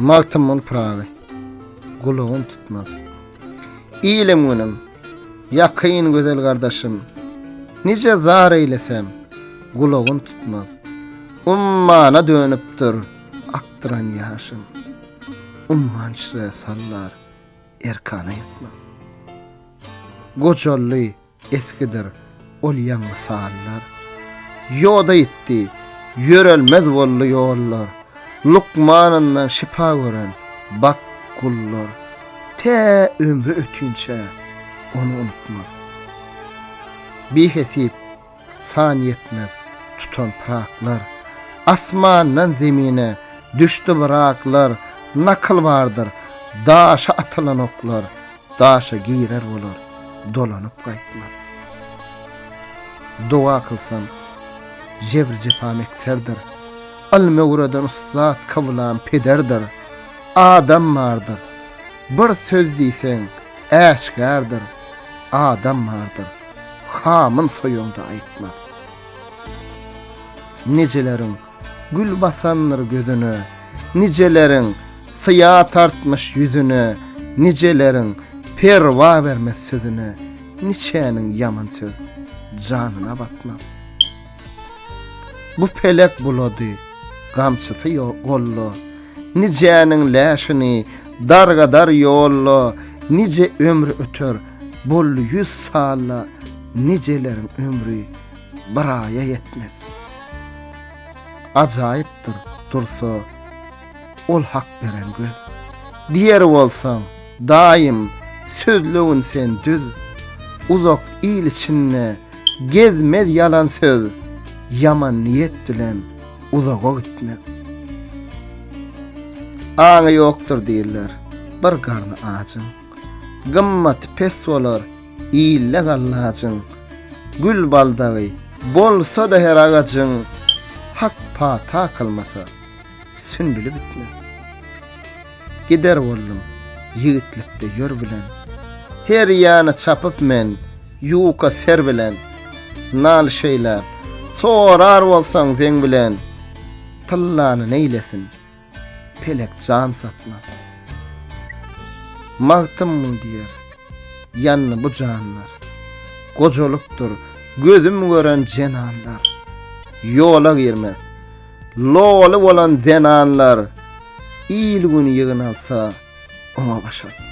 Magtymguly Pyragy gulagyn tutmaz. Ilim günüm, ýakyn gözel gardaşym, Nije zar eýlesem, gulagyn tutmaz. Ummana dönüpdir akdyran ýaşym, Ummançre sallar erkana ýetmez. Gojally Eskidir ol ýaňy sallar. Ýoda ýitdi, ýörelmez boldy ýollar. Lukmanyndan şypa gören, bak, gullar. Tä ömri ötünçä, ony unutmaz. Bihesyp, san ýetmez tutan pyraklar. Asmandan zemine düşdi bir aklar. Nakyl bardyr, daşa atylan oklar. Daşa girer bolar, dolanyp gaýtmaz. Doga kylsam, jebr-jepa mekserdir. Ylmy öwreden ussat kyblam pederdir. Adam bardyr, bir söz diýseň, äşgärdir. Adam bardyr, hamyn soýanda aýtmaz. Nijeleriň Gül basandyr gözüne Nijeleriň syýa tartmyş ýüzüne Nijeleriň perwa bermez sözüne Niçäniň ýaman söz janyna batmaz Bu pelek bulady gamçysy golla Nijäniň läşini dargadar ýolla Nije ömri öter boldy ýüz salla Nijeleriň ömri bir aýa ýetmez. Ajaýypdyr, dursa, ol hak beren göz. Diýer bolsaň, daýym, sözlewin sen düz. Uzak il içinde gezmez ýalan söz, ýaman niýet bilen uzaga gitmez. Aňy ýokdur diýler, bir garny ajyň. Gymmaty pes bolar. Ille gallajyň, gül baldagy bolsa-da her agajyň, hak pata kylmasa, sünbüli bitmez. Gider boldum, ýigitlikde ýör bilen, her ýana çapyp men ýuka ser bilen. Nal şeýläp, sorar bolsaň zeň bilen, tyllany neýlesin, Pelek jan saklap. Magtym muny diýer. Ýandy bu janlar. Gojalykdyr, gözüm gören zenanlar. Ýola girmez. Loly bolan zenanlar. Il-gün ýygnalsa, oňa baş atmaz.